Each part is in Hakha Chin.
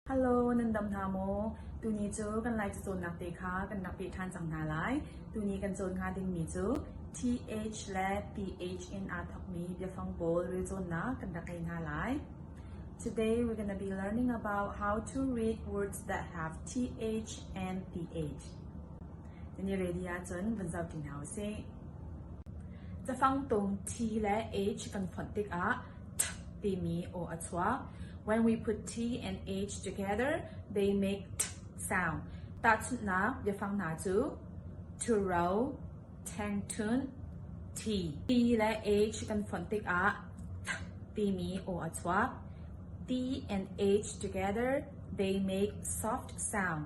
Hello, nan dam hna maw? Tuni cu kan like cawnnak te kha kan rak peh ṭhan cang hna lai. Tuni kan cawn hnga dingmi cu TH le PH in aa thokmi biafang pawl rel cawnnak kan rak ngei hna lai. Today we're going to be learning about how to read words that have TH and PH. Ni rili ahcun van zoh ti hna u sih. Cafang tung thi le age kan fonh tikah ṭh timi aw a chuak. When we put T and H together, they make ṭh sound. Tahchunhnak biafang hna cu to row, tengtun, T. T le H kan fonh tikah ṭh timi aw a chuak. T and H together, they make soft sound.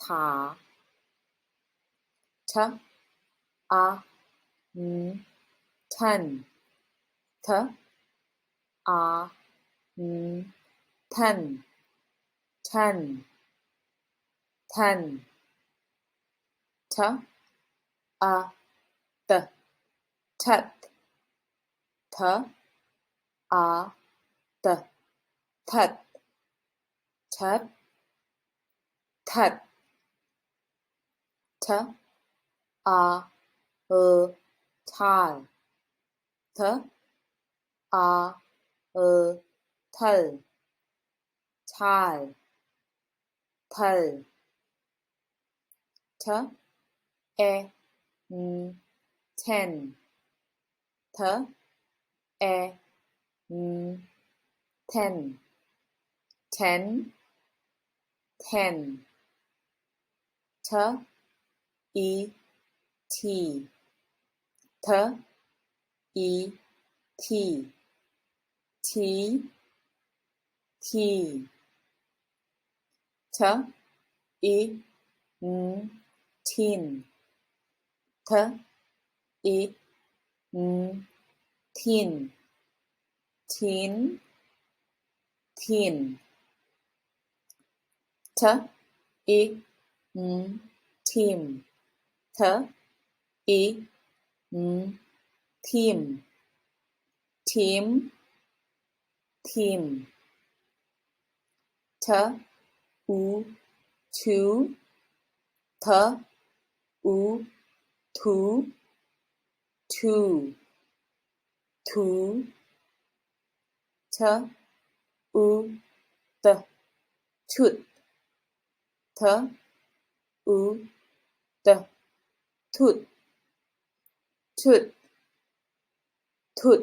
Tha ṭhanh a ing ṭhan ṭha a ing ṭhan ṭhan ṭhan ṭha a ṭa ṭhat ṭha a ṭa ṭhat That, that, th, a, e, thal, th, a, e, thal, thal, thal, th, e, n, then. Th, e, n, then, then, then, th, i, thi, th, i, thi, thi, thi. ṭ i n ṭhin ṭ i n ṭhin ṭhin ṭhin ṭ i n ṭhim ṭ i n ṭhim ṭhim thim ṭh u ṭhu th u ṭhu ṭhu ṭhu ṭh u ṭ ṭhut th u ṭ ṭhut ṭhut ṭhut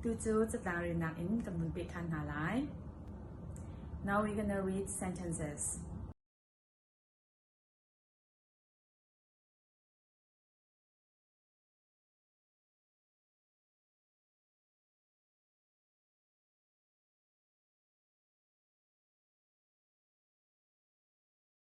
Tucu catlang rinak in kan vun peh ṭhan hna lai. Now we're going to read sentences.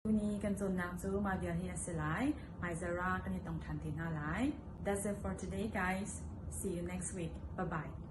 Tuni kan cawnnak cu mah vial hi a si lai. Hmaizara kan i tong ṭhan te hna lai. That's it for today, guys. See you next week. Bye-bye.